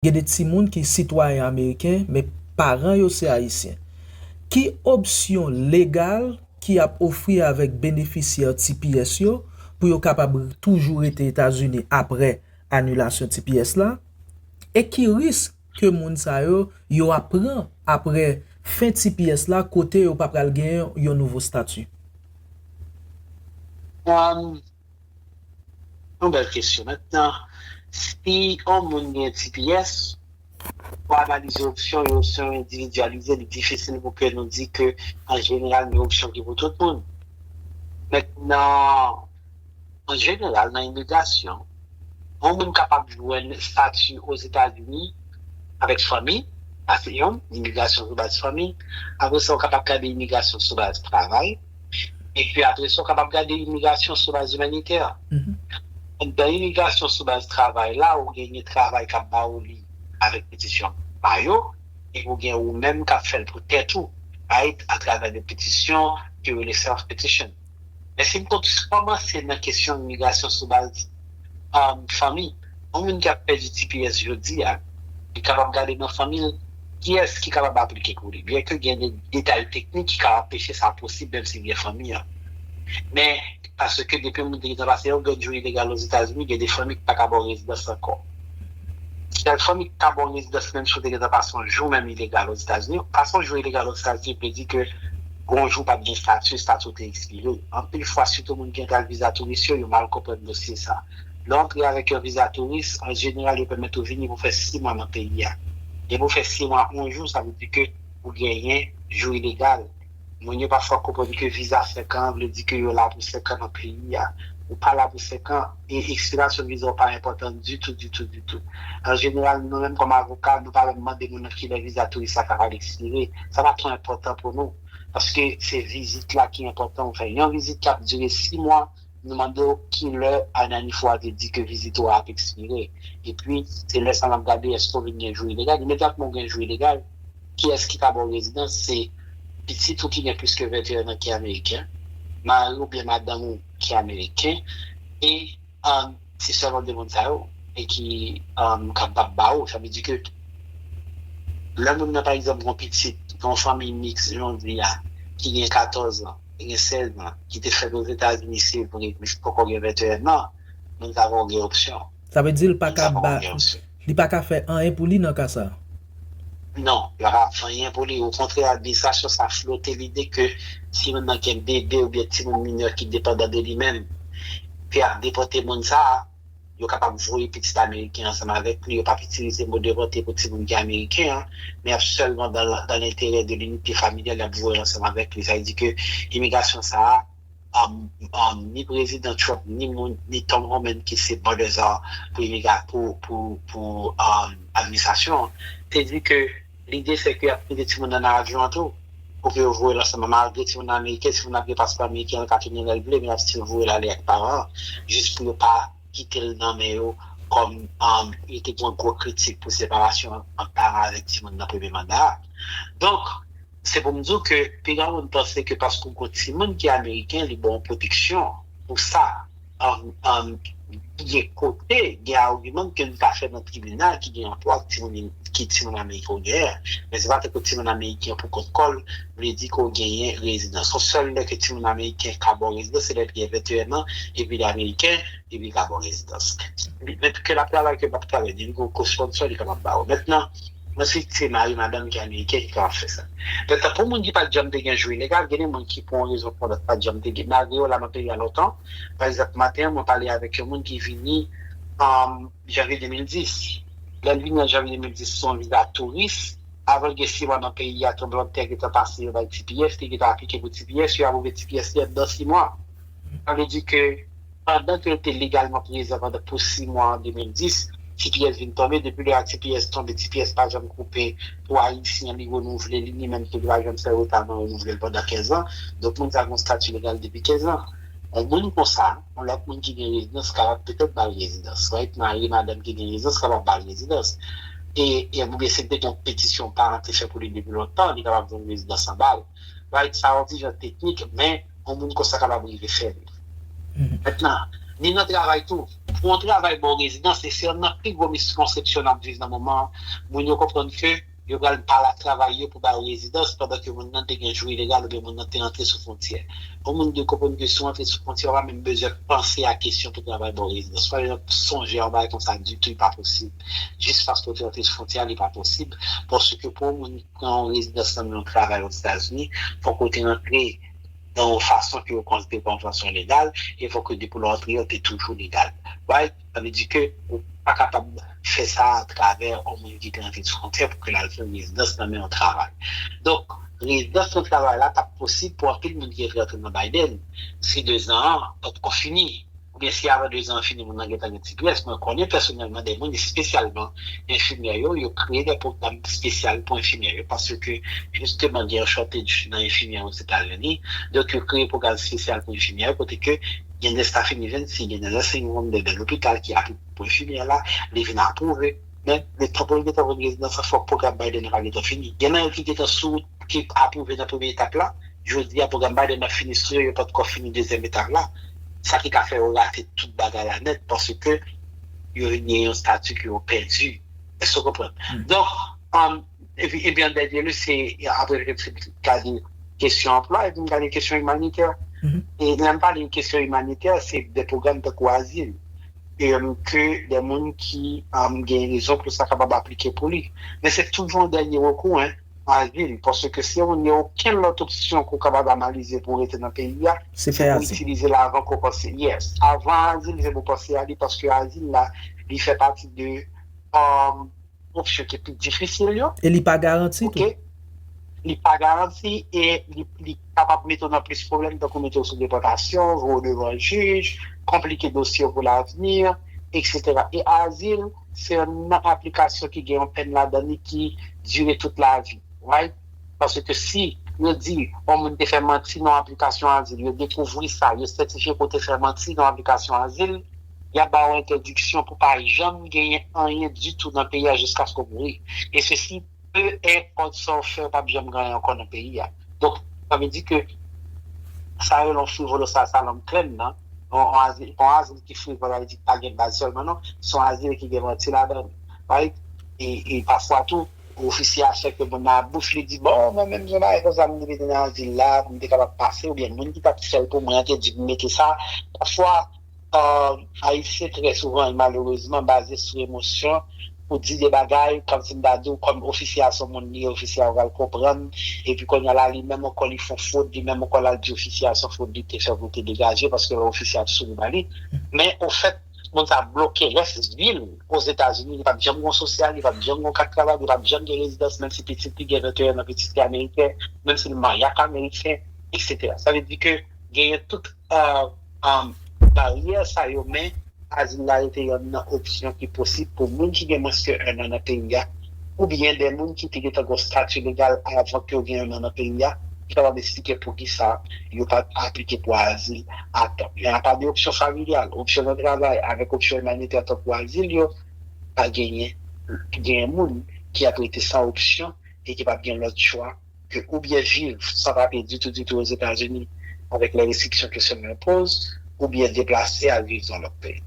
Gen de timoun ki sitwayen ameriken men paran yo se ayisyen. Ki opsyon legal ki ap ofri avèk benefisyè tps yo pou yo kapab toujou rete Etazini apre anilasyon tps la? E ki risk ke moun sa yo yo ap pran apre fen tps la kote yo pa pral gen yon nouvo stati? Yon bèl kesyon. Mentnan, si yon moun gen tps, pou analize opsyon yo, si yon endividyalize, li difisil pou ke nou di ke an jeneral gen opsyon ki pou tout moun. Mentnan, an jeneral nan imigrasyon, yon moun kapab jwenn estati Ozetazini avèk fanmi, sa se yon, imigrasyon sou baz fanmi. Apre sa, ou kapab gade imigrasyon sou baz travay. Epi apre sa, w kapab gade imigrasyon sou baz imanitè. Anndan imigrasyon sou baz travay la, ou gen yon travay k ap ba ou li avèk petisyon pa yo, epi ou gen ou menm k ap fè l pou tèt ou, right, atravè de petisyon ki rele self-petition. Men si m kòmanse nan kesyon imigrasyon sou baz. fanmi. Yon moun ki ap pèdi tps jodi a, li kapab gade nan fanmi l kiyès ki kapab aplike pou li. Byenke gen de detay teknik ki ka anpeche sa posib menm si li gen fanmi an. Men, paske depi yon moun te gentan pase yon grenn jou ilegal Ozetazini, gen de fanmi ki pa ka ba w rezidans ankò. Sèl fanmi ki ka ba w rezidans menm si w te gentan pase yon jou menm ilegal Ozetazini. Pase yon jou ilegal Ozetazini vle di ke. Gon jou pap gen stati, stati w te ekspire. Anpil fwa sitou moun ki antre ak viza touris yo, yo mal konprann dosye sa. Lè w antre avèk yon viza touris, an jeneral yo pèmèt ou vini pou fè 6 mwa nan peyi a. Depi w fè 6 mwa 1 jou, sa vle di ke ou genyen jou ilegal. Moun yo pa fwa konprann ke viza 5 an an vle di ke yo la pou 5 an nan peyi a. Ou pa la pou 5 an. e ekspirasyon viza w pa enpòtan ditou, ditou, ditou. An jeneral, nou menm kòm avoka, nou pa renmn mande moun nan ki lè viza touris la kapab ekspire. Sa pa twò enpòtan pou nou, paske se vizit la ki enpòtan. Ou fè yon vizit k ap dire si mwa, nou mande w ki lè Ananifou a te di ke vizit ou a ap ekspire. Epi, se lè sa a n ap gade èske ou vin gen jou ilegal. Imedyatman ou gen jou ilegal, kiyès ki ka ba w rezidans? Se pitit ou ki gen plis ke 21 an ki ameriken, mari ou byen madanm ou. ki ameriken e se sèlman 2 moun sa yo e ki kapab ba ou, sa vle di ke lè moun nan pa egzanp gon pitit nan fanmiy miks jan w di a ki gen 14 an, ki gen 16 an, ki te fèt Ozetazini se vre men ki poko gen 21 an, moun sa yo gen opsyon. Sa vle di l pa ka ba, li pa ka fè anyen pou li nan ka sa? Non, li pa ka fè anyen pou li. Okontrè, administrasyon sa flote lide ke timoun nan gen bebe oubyen timoun minè ki depandan de li menm, ke y ap depòte moun sa, yo kapab voye pitit ameriken ansanm avèk li, yo p ap itilize mo depòte pou timoun ki ameriken an, men y ap sèlman dan lenterè de linite familyal y ap voye l ansanm avèk li. Sa vle di ke imigrasyon sa a. ni prezidan Trump ni moun ni Tom Homan ki se bòdèza pou administrasyon an te di ke lide se ke y ap mete timoun nan nan avyon an tou pou ke yo voye l ansanm malgre timoun nan ameriken si moun nan ap gen paspò ameriken an l ka tounen lè l vle men y ap stil voye l ale ak paran an jis pou yo pa kite l nan men yo kòm yo te gen yon gwo kritik pou separasyon ant paran avèk timoun nan premye manda a donk. Se pou m di w ke pi gran moun panse ke paske w gen yon timoun ki ameriken li ba w pwoteksyon pou sa. Gen kote, gen agiman ke nou ka fè nan tribinal ki gen rapò ak ki timoun ameriken w genyen. Men se pa tankou timoun ameriken pou kont kò l vle di ke w genyen rezidans. Se sèl lè ke timoun ameriken ka ba w rezidans se lè li gen 21 an epi li ameriken epi li ka ba w rezidans. Men ke l ap travay ke l pa ap travay, depi gen yon kosponsò li kapab ba w. Mwen si se mari madanm ki ameriken ki kapab fè sa. Dèfwa pou moun ki pat janm te gen jou ilegal, gen de moun ki pou yon rezon ou pou yon lòt pat janm te gen, malgre yo la nan peyi a lontan. Pa egzanp, maten an mwen pale avèk yon moun ki vini an janvye 2010. Lè l vini an janvye 2010 sou yon viza touris, avan l gen si mwa nan peyi a, tranblanntè gentan pase yo bay tps, li gentan aplike pou tps, yo apwouve tps li anndan si mwa. Sa vle di ke. Pandan ke l te legalman prezan pandan pou 6 mwa an 2010, ti pyès vin tonbe, depi lè a ti pyès tonbe, ti pyès pa janm koupe pou Ayisyen li renouvle li, li menm tou li pa janm fè reta nan renouvle l pandan 15 an. Donk moun sa gen yon stati legal depi 15 an. Yon moun konsa, yon lòt moun ki gen rezidans kapab petèt ba l rezidans, right, mari, madanm ki gen rezidans kapab ba l rezidans. E, oubyen si l te gen yon petisyon paran te fè pou li depi lontan, li kapab jwenn rezidans anba l. Right sa yon ti jan teknik men yon moun konsa kapab rive fè li. Mentnan, ni nan travay tou. Pou yon travay ba w rezidans e se yonn nan pi gwo miskonsepsyon n ap viv nan moman an, moun yo konprann ke yo pral pale ak travay yo pou ba yo rezidans pandan ke moun nan te gen jou ilegal oubyen moun nan te antre sou fwontyè. Yon moun dwe konprann ke si w antre sou fwontyè ou pa menm bezwen panse a kesyon pou travay ba w rezidans. Pa janm sonje a yon bagay konsa ditou, li pa posib. Jis paske w te antre sou fwontyè a li pa posib paske pou yon moun. Pran yon rezidans nan men yon travay Ozetazini, fòk ou te antre nan yon fason ke yo konsidere kòm fason legal, e fòk ke depi lè w antre yo te toujou legal. Right? Sa vle di ke ou pa kapab fè sa atravè yon moun ki te antre sou fwontyè pou ke l al fè rezidans nan men yon travay. Donk, rezidans nan travay la t ap posib pou anpil moun ki te antre nan Biden si dezan an pa t ko fini. Oubyen si avan dezan an fini moun nan gentan gen ti grès, mwen konnen pèsonèlman de moun espesyalman enfimyè yo, yo kreye de pwogram espesyal pou enfimyè yo paske jisteman gen yon shortage nan enfimyè Ozetazini, donk yo kreye pwogram espesyal pou enfimyè yo kote ke gen de staffing events, gen de nursing home, gen de lopital ki apwouve pou enfimyè la, li vin apwouve. Men, letan pou yo gentan vin rezidan sa, fòk pwogram Biden an pa gentan fini. Gen nan yo ki gentan sou wout pou ki apwouve nan premye etap la, jodi a pwogram Biden nan fini sou yo, yo pa t ko fini dezyèm etap la, sa ki ka fè yo rate tout bagay la nèt paske yo vin gen yon stati ke yo pèdi. Èske w konprann? Donk, epi epi an dènye lye se apre yo te fin gade kesyon anplwa, yo vin gade kesyon imanitè. E lè m pale kesyon imanitè, se de pwogram tankou azil. e ke dè moun ki gen rezon pou sa kapab aplike pou li. Men se toujou an dènye rekou, an azil, paske si yon moun gen okenn lòt opsyon ke w kapab analize pou w rete nan peyi a, se pou w itilize l avan ke w panse. Yes. Avan azil, se pou w panse a li paske azil la, li fè pati de. opsyon ki pi difisil yo. E li pa garanti tou. Ok. Li pa garanti e li kapab mete w nan plis pwoblèm tankou mete w sou depòtasyon, voye w devan jij, konplike dosye w pou lavni, eksetera. E azil, se youn nan aplikasyon ki gen yon pèn ladan li ki dire tout lavi. Right? Paske si yo di yon moun te fè manti nan yon aplikasyon azil, yo dekouvri sa, yo sètifye ke w te fè manti nan yon aplikasyon azil, yap ba ou entèdiksyon pou pa janm genyen anyen ditou nan peyi a jiskaske ou mouri e sesi pe enpòt sa ou fè ou pap janm gen anyen ankò nan peyi a donk sa vle di ke sa yo rele yon frivolo sa sa lòm klè nan yon azil yon azil ki frivòl avle di ki pa gen baz sèlman non se yon azil ki gen manti ladan li right e pafwa tou ofisye a chèke moun nan ak bouch li di bon mwen menm gen bagay konsa m te mete nan azil la pou m te kapab pase oubyen moun ki tap fè l pou mwen an te di m mete sa pafwa. Ayisyen trè souvan e malerezman baze sou emosyon pou di de bagay kòmsi m ta di w kòm ofisye a son moun li ye ofisye a pral konprann epi kounye a la li menm ankò li fon fot li menm ankò l al di ofisye a son fot li te fè pou l te degaje paske lè ofisye a ap souri ba li men ofèt moun sa ap bloke rès vi l ozetazini li pap janm gon sosyal li pap janm gon kat travay li pap janm gen rezidans menmsi pitit li gen 21 nan pitit li ameriken menmsi l marye ak ameriken eksetera sa vle di ke genyen tout. baryè sa yo men azil la rete yonn nan opsyon ki posib pou moun ki gen mwens ke 1 an nan peyi a oubyen de moun ki te gentan gon stati legal avan ke yo gen 1 an nan peyi a ki kapab esplike poukisa yo pat aplike pou azil a tan. Men apa de opsyon familyal, opsyon nan travay avèk opsyon imanitè tankou azil yo pa genyen, genyen moun ki ap rete san opsyon e ki pap gen lòt chwa. ke ou byen viv san papye ditou ditou Ozetazini avèk lè restriksyon kesyon yo enpoz, ou byen deplase al viv nan lòt peyi.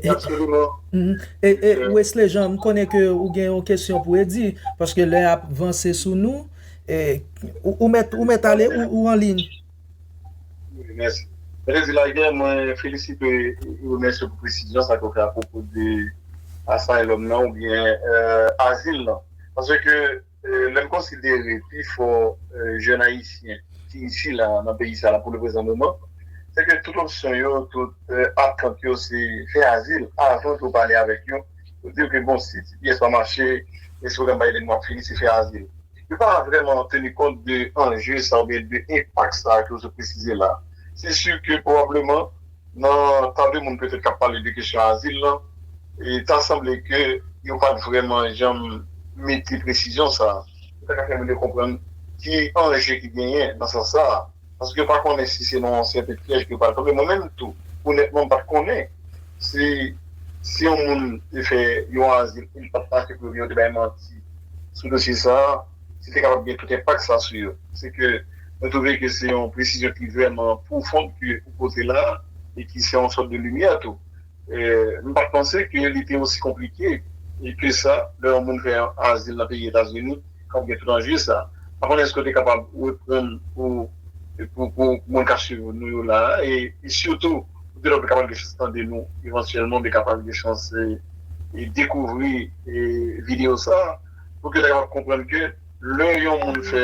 Absoliman. Wesley Jean, m konnen ke ou gen yon kesyon pou Eddy, paske lè ap vanse sou nou. Ou mèt, ou mèt ale, ou an liy. Wi, mèsi. Mwen te di lagè, mwen felisite e remèsye pou presizyon sa ke ou fè apwopo de asylum nan ou byen azil lan. Paske. Lè n konsidere pi fò jèn ayisyen ki isi la nan peyi sa pou le prezan moman, se ke tout opsyon yo, tout atant yo se fè azil avan ke w pale avèk yo. Yo di w ke bon si ti pyès pa mache, men si pwogram Biden nan ap fini, se fè azil. Yo pa vrèman teni kont de anje sa oubyen de enpak sa ke w sot presize la. Se si ke pwobableman. Nan tande moun petèt k ap pale de kesyon azil lan, ta sanble ke yo pa t vrèman janm mete presizyon sa a. Yo ta ka fè moun yo konprann ki anje ki genyen nan sans sa a. Paske yo pa konnen si se nan yon sèten pyèj ke yo pral tonbe. Mwen menm tou, onètman, m pa t konnen si si yon moun te fè yon azil e li pa t mache pou yo byen yo te bay manti sou dosye sa a. ki te kapab gen tout enpak sa sou yo. Se ke mwen twouve ke se yon presizyon ki vrèman pwofon ke ou pote la a, e ki se yon sòt de limyè tou. M pa t panse ke li te osi konplike ke sa lè yon moun fè azil nan peyi Etazini k ap gen tout anje sa. Pa konnen èske ou te kapab reprann pou moun k ap swiv nou yo la a, e sitou pou de lòt yo kapab gen chans tande nou evantyèlman oubyen kapab gen chans dekouvri videyo sa a. pou ke yo ta kapab konprann ke lè yon moun fè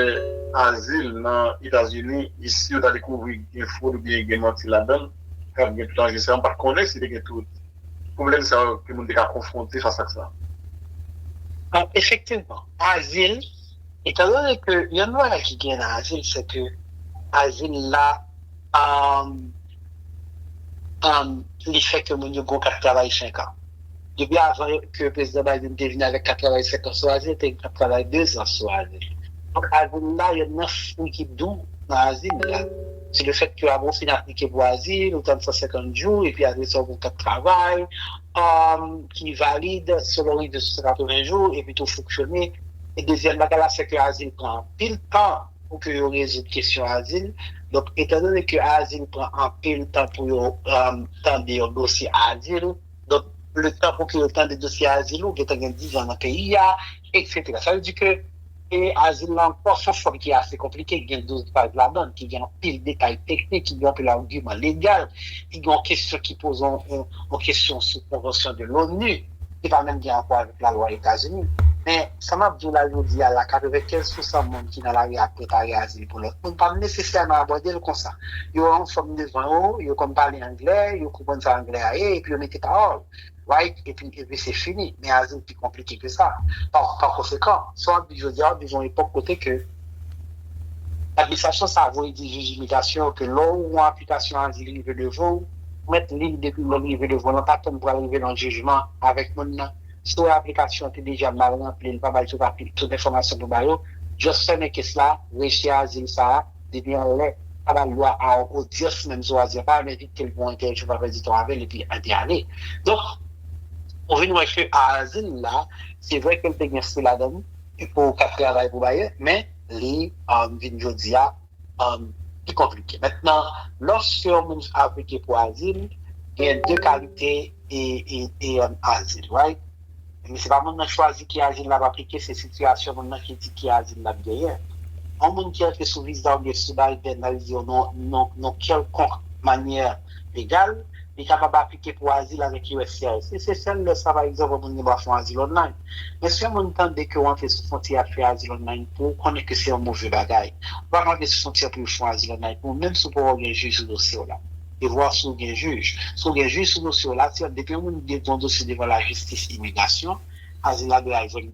azil nan Etazini e si yo ta dekouvri gen fwod oubyen gen manti ladann, kab gen tout anje sa yo. M pat konnen si te gen tout pwoblèm sa yo ke moun te ka konfwonte fas ak sa. Efektivman, azil, etan done ke yon nan bagay ki gen nan azil se ke azil la li fè ke moun yo gen yon kat travay 5 an. Depi avan ke Prezidan Biden te vini avèk kat travay 5 an sou Azi, yo te gen kat travay 2 zan sou Azi. Donk Azi nou la, yonn nan fwi ki dou nan Azi nou la, se le fèt ke avan ou fin aplike pou Azi, ou tann 150 jou, epi apre sa ou gen yon kat travay ki valid selon rive sou 180 jou, epi tou fonksyone. E dezyèm bagay la, se ke Azi pran anpil tan. pou ke yo rezoud kesyon azil. Donk, etan done ke azil pran anpil tan pou yo tande yon dosye azil, donk le tan pou ke yo tande dosye azil ou gentan gen dizan nan peyi a, eksetera. Sa vle di ke azil lan pran yon fòm ki ase konplike, ki gen 12 paj ladan l, ki gen anpil detay teknik, ki gen anpil agiman legal, ki gen yon kesyon ki poze yon kesyon sou konvansyon de l'ONU. ki pa menm gen rapò avèk lalwa Etazini. Men, sa m ap di w la jodi a la, 95 pou san moun ki nan lari a ap prepare azil pou lòt moun, pa m nesesèman abòde l konsa. Yo wè yon fòm devan yo, yo konn pale anglè, yo konprann sa anglè a ye, epi yo mete pawòl, right, epi, epi se fini. Men azil pi konplike ke sa. Pakonsekan, sa w ap viv jodi a, w ap viv yon epòk kote ke administrasyon sa a voye di jij imigrasyon yo ke lè yon aplikasyon azil rive devan w, Mèt lil depi lèl rive devan lan pa tann pral rive nan jijman avèk moun nan si wè aplikasyon an te deja mal ranpli li pa bay tout apli tout enfòmasyon pou ba yo just fèmen kes la rejte azil sa a depi anlè pa bal dwa a yon odyans menm sou azil pa menm envitel pou yon entèvyou pa pèdi tan avèl epi epi ale donk ou vin wè ke azil la se vre kel te gen fwi ladann pou kap travay pou bayè men li vin jodi a. pi konplike. Mentnan, lòske yon moun aplike pou azil, gen de kalite azil, right? Se pa moun nan chwazi ki azil l ap aplike, se sitiyasyon moun nan ki di ki azil l ap genyen. Yon moun ki antre sou viza oubyen sou baryènal di yo non kèlkonk manyè. legal, li kapab aplike pou azil avèk uscis. Si se sèl lè sa, pa egzanp, yon moun gen dwa fè yon azil online. Men si yon moun tande ke ou antre sou fwontyè ap fè azil online pou ou, konnen ke se yon move bagay. Ou pa ka antre sou fwontyè pou yo fè yon azil online pou ou, menm si ou poko gen jij sou dosye w la. E vwa si ou gen jij. Si ou gen jij sou dosye w la, si depi yon moun gen yon dosye devan lajistis imigrasyon, azil la dwe al jwenn.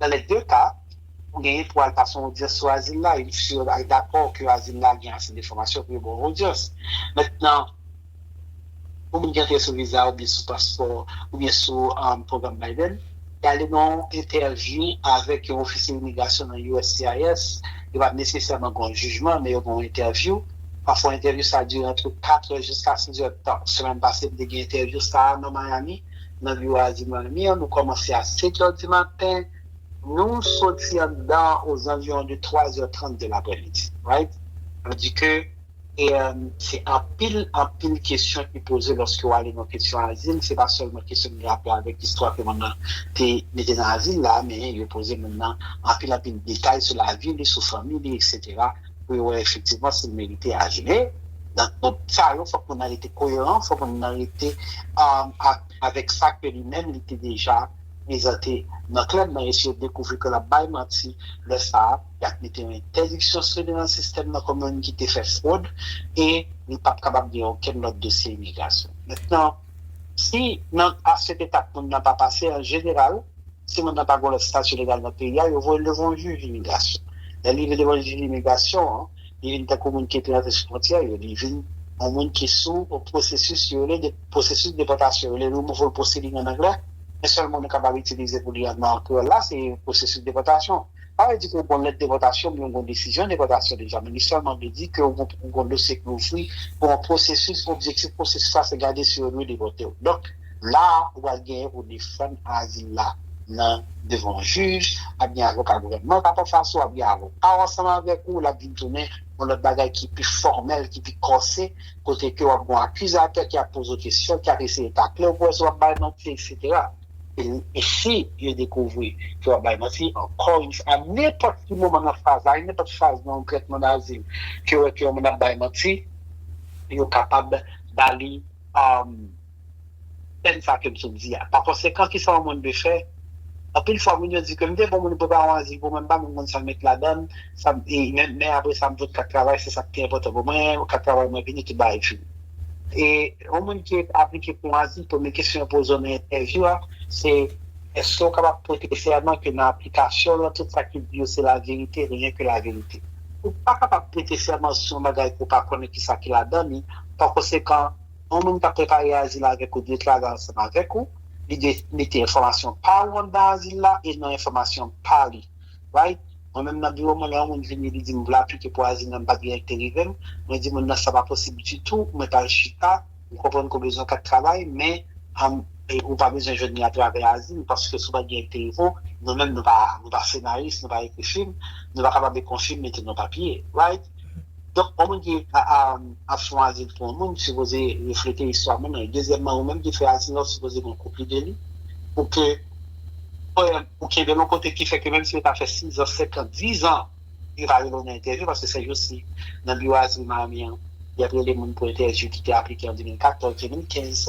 Nan lè de ka, ou genyen pou al pase yon odyans sou azil la e si yo al dakò ke azil la gen ase de enfòmasyon pou yo ba w odyans. Mentnan, pou moun ki antre sou viza oubyen sou paspò oubyen sou pwogram Biden, y ale nan yon entèvyou avèk yon ofisye imigrasyon nan uscis, yo pa nesesèman gen yon jijman men yo gen yon entèvyou. Pafwa entèvyou sa dire antre 4 è jiska 6 è tan. Semèn pase m te gen entèvyou sa a nan Miami. nan biwo a di mwen, Lemir, nou kòmanse a setyè dimaten, nou soti anndan an ozanviwon de twazè trant de lapremidi. Right? Mwen di ke se anpil, anpil kesyon ki poze lòske ou ale nan kesyon azil, se pa sèlman kesyon ki gen rapò avèk istwa ke moun nan te mete nan azil la, men yo poze moun nan anpil, anpil detay sou lavi li, sou fanmi li, eksetera. pou yo wè efektivman si l merite ajoude. Nan tout sa yo, fòk moun nan rete koyeran, fòk moun nan rete avèk sa ke li menm li te deja prezante nan klèb nan e si yo dekouvri ke l ap bay manti, lè sa a, y ap mete yon entèdiksyon sou li nan sistèm nan kòm moun ki te fè fwod e li p ap kapab gen okenn lòt dosye imigrasyon. Mentnan. Si nan afè detak moun nan pa pase, an jeneral, si moun nan pa gon lòt stati legal nan peyi a, yo voye l devan yon jij imigrasyon. Lè li rive devan jij imigrasyon an, li vin tankou moun ki te rantre sou fwontyè yo, li vin yon moun ki sou pwosesis yo rele pwosesis depòtasyon, rele removal proceeding an anglè, men sèl mo nou kapab itilize pou li nan kreyòl la se pwosesis depòtasyon. pa vle di ke w gon lèt depòtasyon oubyen w gon desizyon depòtasyon deja men li sèlman vle di ke ou gon dosye ki ouvri pou yon pwosesis objektif pwosesis la se gade si yo dwe depòte w donk la a ou pral genyen pou w defann azil la nan devan yon jij ap gen avoka gouvènman kap anfas ou ap gen avoka w ansanm avèk ou lap vin tounen yon lòt bagay ki pi fòmèl ki pi kòse kote ke wap gon akizatè ki ap poze w kesyon ki ap eseye takle w pou wè si wap bay manti eksetera. E si yo dekouvri ke w ap bay manti, ankò yon fwa, a nenpòt ki moman nan faz la, a nenpòt faz nan yon trètman dazil, ke yo wè ke yon moun ap bay manti, yo kapab ba li pèn sa ke m sot di a. Pakonsekan, kisa yon moun dwe fè? Anpil fwa, moun yo di ke m te pran moun pou baron azil pou mwen, m pa menm konn sa m met ladan l, sa m, men apresa m fout kat travay, se sa ki pi enpòtan pou mwen, kat travay mwen vini, tout bagay fini. E yon moun ki aplike pou yon azil, premye kesyon yo poze w nan entèvyou a, se èske ou kapab pote sèman ke nan aplikasyon w lan tout sa ki di yo se laverite, reyen ke laverite. Ou pa kapab prete sèman sou yon bagay ke w pa konnen kisa ki ladan li, pa konsekan, yon moun kap prepare azil avèk ou dwe travay ansanm avèk ou, li dwe mete enfòmasyon pa ou anndan azil la e nan enfòmasyon pa li. right? Mwen menm nan biwo mwen lè yon moun vini li dim vle aplike pou azil menm pat gen yon ki te rivem, mwen di moun nan sa pa posib ditou, mwen tal chita, m konprann ke w bezwen kat travay men humm ou pa bezwen jwenn li atravè azil paske si w pat gen yon ki te rive w, nou menm nou pa nou pa senaris, nou pa ekri fim, nou pa kapab ekri yon fim mete nan papye, right? Donk ou menm ki ap chwazi pou yon moun, sipoze reflete istwa moun nan. Dezyèmman, ou menm ki fè atis la, ou sipoze gen kopi de li pou ke powèm ou kenbe l yon kote ki fè ke menm si yo ta fè sizan, senkant, dizan, yo ta rele w nan entèvyou paske sèjousi nan biwo azil Miami an, y ap rele moun pou entèvyou ki te aplike an 2014, 2015,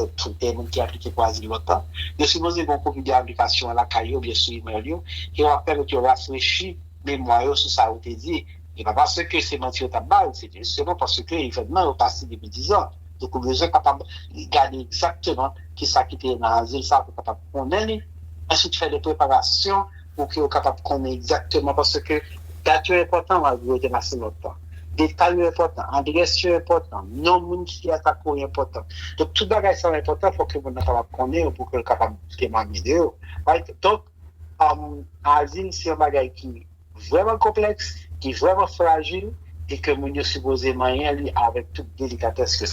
e moun ki aplike pou azil lòt tan. Yo sipoze gen yon kopi de aplikasyon an lakay yo oubyen sou imèl yo e w ap pèmèt yo rafrechi memwa yo sou sa ou te di. E pa paske se manti yo t ap ba l, se jisteman paske evènman yo pase depi dizan. Donk ou bezwen kapab gade egzakteman ki sa ki te ye nan azil sa a pou w kapab konnen li. Answit fè de preparasyon pou ke w kapab konnen egzakteman paske dat yo enpòtan malgre yo te pase lontan. Detay yo enpòtan, adrès yo enpòtan, non moun ki te atake w enpòtan. Donk tout bagay sa yo enpòtan fò ke moun nan kapab konnen yo pou ke l kapab temwanye de yo. Donk azil se yon bagay ki. vrèman konplèks, ki vrèman frajil e ke moun yo sipoze manyen li avèk tout delikatès ke